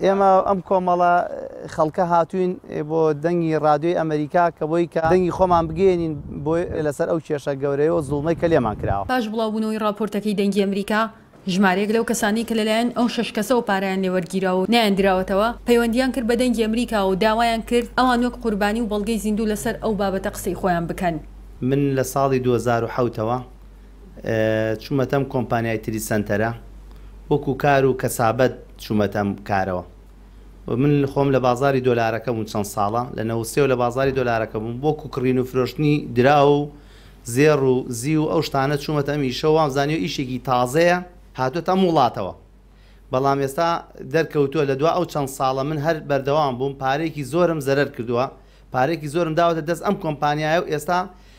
ئێمە ئەم کۆمەڵە خەڵکە هاتووین بۆ دەنگی ڕادیۆی ئەمەریکا کە بۆی کە دەنگی خۆمان بگەێنین بۆ لەسەر ئەو کێشە گەورەیە و زوڵمەی کە لێمان کراوە. پاش بڵاوبوونەوەی ڕاپۆرتەکەی دەنگی ئەمریکا، ژمارەیەک لەو کەسانەی کە لەلایەن ئەو شەش کەسەوە پارەیان لێ وەرگیراوە و نەیاندراوەتەوە، پەیوەندییان کرد بە دەنگی ئەمریکاوە و داوایان کرد ئەوان وەک قوربانی و بەڵگەی زیندوو لەسەر ئەو بابەتە قسەی خۆیان بکەن. من لە ساڵی دوو هەزار و حەوت ەوە چوومەتە ئەم کۆمپانیای تریت سەنتەرە وەکو کار و کەسابەت چوومەتە ئەم کارەوە و من خۆم لە بازاری دۆلارەکە بووم چەند ساڵە لە نەوەد و سێ وە لە بازاری دۆلارەکە بووم وەکو کڕین و فرۆشتنی دراو و زێڕ و زیو و ئەو شتانە چوومەتە ئەم ئیشەوە وام زانیوە ئیشێکی تازەیە هاتووەتە ئەم وڵاتەوە بەڵام ئێستا دەرکەوتووە لە دوا ئەو چەند ساڵە من هەر بەردەوام بووم پارەیەکی زۆرم زەرەر کردووە پارەیەکی زۆرم داوەتە دەست ئەم کۆمپانیایە و ئێستا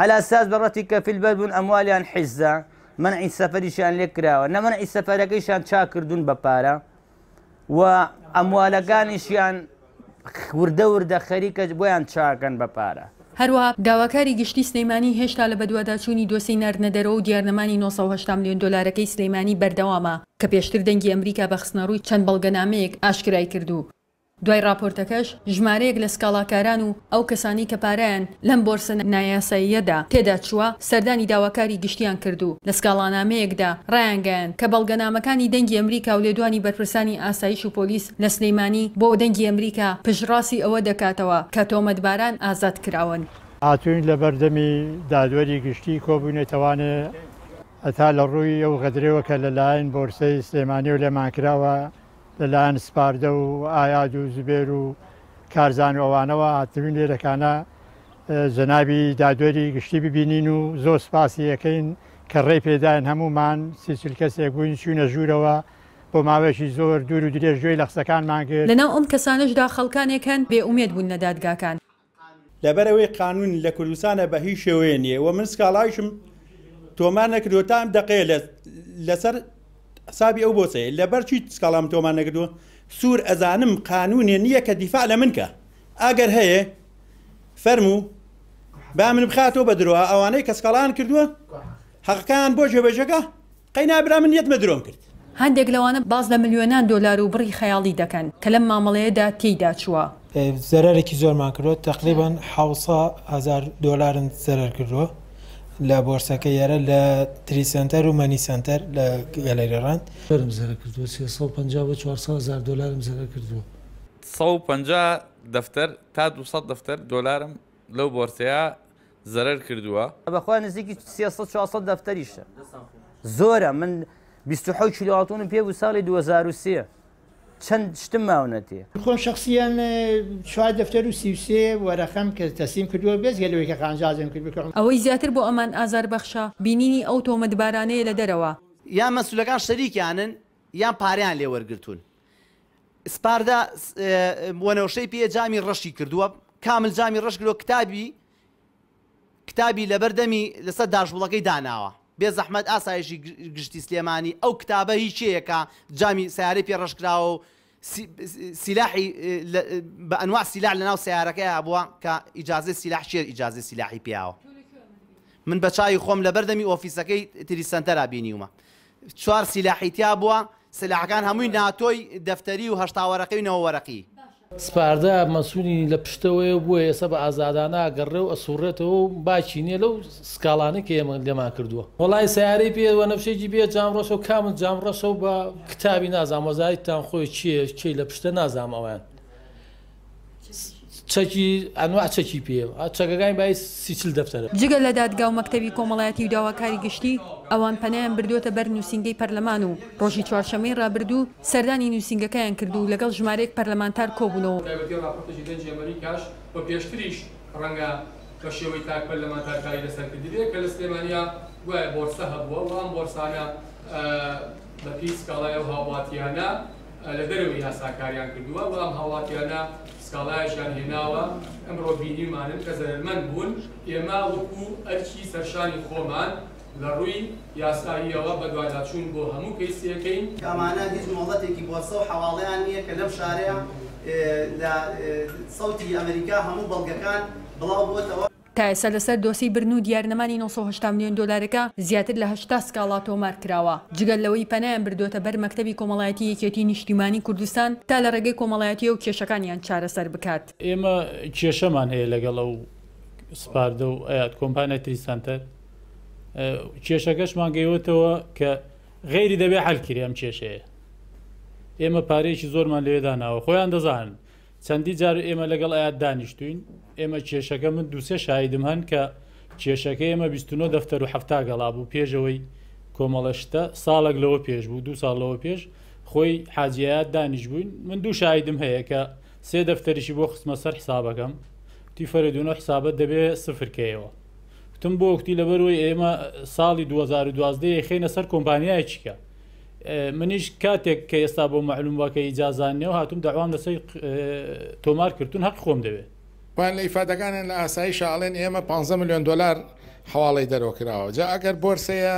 عەلاساس بە ڕەتی کەفیل بەر بوون ئەموالیان حیزە، مەنعی سەفەریشیان لێ کراوە، نە مەنعی سەفەرەکەیشیان چاک کردوون بە پارە و ئەموالەکانیشیان وردە وردە خەریکە بۆیان چاکەن بە پارە. هەروەها داواکاری گشتی سلێمانی هێشتا لە بەدواداچوونی دۆسێی ناردنە دەرەوە و دیارنەمانی نۆ سەد و هەشتا ملیۆن دۆلارەکەی سلێمانی بەردەوامە کە پێشتر دەنگی ئەمریکا بە خستنەڕووی چەند بەڵگەنامەیەک ئاشکرای کرد و دوای ڕاپۆرتەکەش ژمارەیەک لە سکاڵاکاران و ئەو کەسانەی کە پارەیان لەم بۆرسە نایاساییەدا تێدا چووە، سەردانی داواکاری گشتییان کرد و لە سکاڵانامەیەکدا ڕایانگەیاند کە بەڵگەنامەکانی دەنگی ئەمریکا و لێدوانی بەرپرسانی ئاسایش و پۆلیس لە سلێمانی بۆ دەنگی ئەمریکا پشتڕاستی ئەوە دەکاتەوە کە تۆمەتباران ئازاد کراون. هاتووین لەبەردەمی دادوەری گشتی کۆبوونە تەوانێ هەتا لە ڕووی ئەو غەدرەوە کە لە لایەن بۆرسەی سلێمانیەوە لێمان کراوە لە لایەن سپاردە و ئایاد و زبێر و کارزان و ئەوانەوە هاتبین لێرەکانە جەنابی دادوەری گشتی ببینین و زۆر سپاسی یەکەین کە ڕێ پێداین هەمومان سیچل کەسێک بووین چوینە ژوورەوە بۆ ماوەیەکی زۆر دوور و درێژ گوێی لە قسەکانمان گرت. لەناو ئەم کەسانەشدا خەڵکانێک هەن بێ ئومێد بوون لە دادگاکان. لەبەرئەوەی قانون لە کوردستانا بە هیچ شێوەیە نیە و من سکاڵایشم تۆمار نەکردوە تا ئەم دەقەیە لە لەسەر حسابی ئەو بۆسەیە لەبەر چی سکاڵام تۆمار نەکردوە سوور ئەزانم قانونێ نییە کە دیفاع لە من کە ئەگەر هەیە فەرموو با من بخاتەوە بە درۆ ئەوانەی کە سکاڵان کردووە حەقەکان بۆ جێبەجەکە قەینا برا من یەت مەدرۆم کرد. هەندێک لەوانە باس لە ملیۆنان دۆلار و بڕی خەیاڵی دەکەن کە لەم مامەڵەیەدا تێیدا چووە. زەرەرێکی زۆرمان کردووە، تەقریبا حەوت سە هەزار دۆلارم زەرەر کردووە لە بۆرسەکەی ئێرە لە تریت سەنتەر و مەنی سەنتەر لە گەلەری ڕەند. فرم زەرەر کردووە، سێ سەد و پەنجا بۆ چوار سە هەزار دۆلارم زەرەر کردووە. سەد و پەنجا دەفتەر تا دوو سەد دەفتەر دۆلارم لەو بۆرسەیە زەرەر کردووە. بەخوا نزیکی سێ سەد چوار سەد دەفتەریشە زۆرە من بیست و حەوت کیلۆ ئاڵتونم پێ بوو ساڵی دوو هەزار و سێ چەند شتم ماونە تێ. خۆم شەخسیەن چوار دەفتەر و سی و سێ وەرەقەم تەسلیم کردووە بێجگە لەوەی کە قانجازم کرد بە. ئەوەی زیاتر بۆ ئەمان ئازار بەخشە بینینی ئەو تۆمەتبارانەیە لە دەرەوە. یان مەسولەکان شەریکیانن یان پارەیان لێ وەرگرتوون سپاردە وەنەوشەی پێ جامی ڕەشی کردووە کامل جامی ڕەش گرۆ کتابی کتابی لەبەر دەمی لەسەر داشبڵەکەی داناوە بێ زەحمەت ئاسایشی گشتی سلێمانی ئەو کتابە هی چێیەکە جامی سیارەی پێ ڕشکراوە و سیلاحی بە ئەنوا سیلا لە ناو سیارەکەی هەبووە کە ئیجاازی سیلاح شێر ئیجاازی سیلاحی پیاوە من بە چاوی خۆم لە بەردەمی ئۆفیسەکەی تری سنتەرا بینیومە چوار سیلاحی تیا بووە، سلاحەکان هەمووی ناتۆی دەفتەری و هەشتا وەرەقی و نەوە وەرەقی. سپاردە مەسولی لە پشتەوەیە و بۆیە ئێستا بە ئازادانە ئەگەڕێ و ئەسوڕێتەوە و باکی نیە لەو سکاڵانەی کە ئێمە لێمان کردووە. وەڵای سەیارەی پێ وەنەفشێکی بێ جام ڕەشە و کامت جام ڕەشە و بە کتابی نازام وەزایتتان خۆی چیە کێی لە پشتە نازام ئەویان چەکی ئەنواع چەکی پێیە و چەکەکانی بای سی چل دەفتەرە. جگە لە دادگا و مەکتەبی کۆمەڵایەتی و داواکاری گشتی، ئەوان پەنایان بردووەتە بەر نووسینگەی پەرلەمان و ڕۆژی چوارشەممەی ڕابردوو سەردانی نووسینگەکەیان کرد و لەگەڵ ژمارەیەک پەرلەمانتار کۆبوونەوە. بەتایبەتی ڕاپۆرتێکی دەنگی ئەمەریکاش و پێشتریش ڕەنگە بە شێوەی تاک پەرلەمانتار کاری لەسەر کردبێت کە لە سلێمانییە گوایە بۆرسە هەبووە و ئەم بۆرسانە بە پێی سکاڵای ئەو هاوڵاتییانە، لە دەرەوەی یاسا کاریان کردووە و ئەم هاوڵاتیانە سکاڵایەکیان هێناوە ئەمڕۆ بینیمانن کە زەرەرمەند بوون، ئێمە وەکو ئەرکی سەرشانی خۆمان لە ڕووی یاساییەوە بەدواداچوون بۆ هەموو کەیس دەکەین. ئەمانە هیچ مۆڵەتێکی بۆرسە و حەواڵەیان نییە کە لەم شارەیە لە سەوتی ئەمەریکا هەموو بەڵگەکان بڵاو بۆتەوە. تا ئێستا لەسەر دۆسێی برن و دیارنەمانی نۆ سەد و هەشتا ملیۆن دۆلارەکە زیاتر لە هەشتا سکاڵا تۆمار کراوە، جگە لەوەی پەنایان بردۆتە بەر مەکتەبی کۆمەڵایەتی یەکێتی نیشتیمانی کوردستان تا لە ڕێگەی کۆمەڵایەتیەوە کێشەکانیان چارەسەر بکات. ئێمە کێشەمان هەیە لەگەڵ ئەو سپاردە و ئەیات کۆمپانیای تری سەنتەر کێشەکەشمان گەیوەتەوە کە غەیری دەبێ حەل کرێ ئەم کێشەیە ئێمە پارەیەکی زۆرمان لەوێ داناوە خۆیان دەزانن چەندی جار ئێمە لەگەڵ ئەیاد دانیشتووین، ئێمە کێشەکە من دوو سێ شاهیدم هەن کە کێشەکەی ئێمە بیست و نۆ دەفتەر و حەفتا گەڵا بوو پێش ئەوەی کۆمەڵە شتە ساڵێک لەوە پێش بوو دوو ساڵ لەوە پێش خۆی حاجی ئەیاد دانیشبووین من دوو شاهیدم هەیە کە سێ دەفتەریشی بۆ خستمە سەر حسابەکەم وتی فەرێدون و حسابەت دەبێ سفر کەیەوە وتم بۆ وتی لەبەرەوەی ئێمە ساڵی 2012 یەی خەینە سەر کۆمپانیایەکی کە منیش کاتێک کە ئێستا بۆ مەعلوم واکە ئیجازان نێو هاتوم داوام لەسەر تۆمار کردون هەق خۆم دەوێت. پایان لە ئیفادەکانیان لە ئاسایشە ئەڵێن ئێمە پانزە ملیۆن دۆلار حەواڵەی دەرەوە کراوە جا ئەگەر بۆرسەیە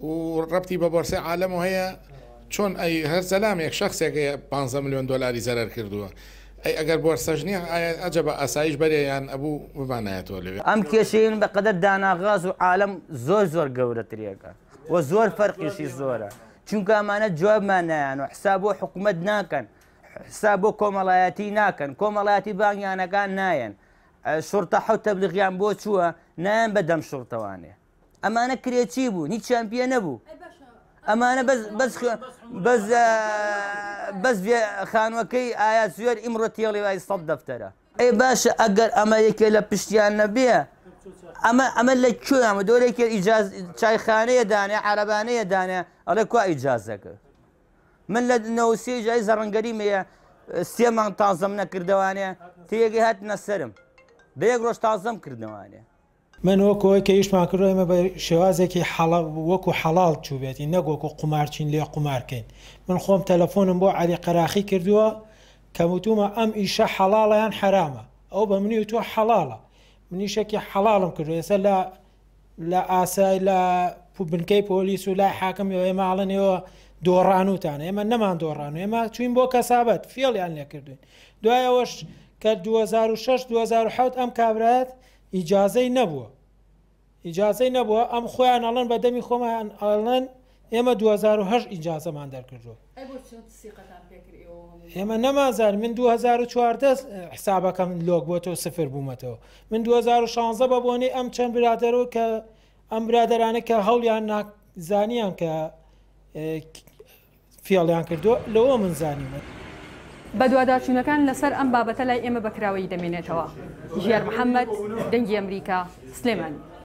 و ڕەبتی بە بۆرسەی عالەم و هەیە چۆن ئەی هەر زەلامێک شخصێک هەیە پانزە ملیۆن دۆلاری زەرەر کردووە ئەی ئەگەر بۆرسەش نییە ئایا ئەجەبە ئاسایش بەرێ یان ئەبوو بمانایەتەوە لەوێ. ئەم کێشەیەن بەقەدەر داناغاز و عالەم زۆر زۆر گەورەتریەکە. وە زۆر فەرقیشی زۆرە چونکە ئەمانە جوابمان نایان و حساب بۆ حکوومەت ناکەن حساب بۆ کۆمەڵایەتی ناکەن کۆمەڵاتی بانگیانەکان نایەن شورتە حەوت تەبلیغیان بۆ چووە نایەن بە دەم شورتەوانێ ئەمانە کرێچی بوو هیچ چمپیە نەبوو ئەمانە بەس خانوەکەی ئایا زوێر ئیمڕۆ تێڵی وای سەد دەفتەرە ئەی باشە ئەگەر ئەمە یەکێ لە پشتیان نەبێ ئەمە ئەمە لە کوێ مە دۆرێکێ ئیجاز چایخانەیە دانێ عەرەبانەیە دانێ ئەڵێ کوا ئیجازەکە من لە نەوسی جای زەڕنگەری مەیە سێ مانگ تازەم نەکردوانێ تێگەی هاتنە سرم بە یەک ڕۆژ تازەم کردوانێ من وەکو ئەوەی کە ئیشمان کردوە ئێمە بە شێوازێکی حەڵا وەکو حەڵاڵ چووبێتی نەک وەکو قومارچین لێ قومار کەین من خۆم تەلەفۆنم بۆ عەلی قەراخی کردووە کەم وتومە ئەم ئیشە حەڵاڵە یان حەرامە ئەو بە منی وتووە حەڵاڵە منیشەکی حەڵاڵم کردوە ئێستا لە لە ئاسای لە بنکەی پۆلیس و لای حاکم ئێمە ئاڵن ئێوە دۆڕانوتان ئێمە نەمان دۆڕان ئێمە چوین بۆ کەسابەت فێڵیان لێکردوین دوایەوەش کە 2006 2007 ئەم کابرایەت ئیجازەی نەبووە ئیجازەی نەبووە ئەم خۆیان ئەڵەن بە دەمی خۆمان ئەڵەن ئێمە 2010 ئیجازەمان دەرکردووە ئێمە نەمازار من 2014 حسابەکەم لۆک بۆ تۆ سفر بوومەتەوە من 2016 بە بۆنەی ئەم چەند برادەرەوە کە ئەم برادرانە کە هەڵیان ناک زانیان کە فێڵیان کردووە لەوە من زانیومە. بەدواداچوونەکان لەسەر ئەم بابەتە لای ئێمە بەکراوەیی دەمێنێتەوە. ژیار محەمەد، دەنگی ئەمریکا، سلێمانی.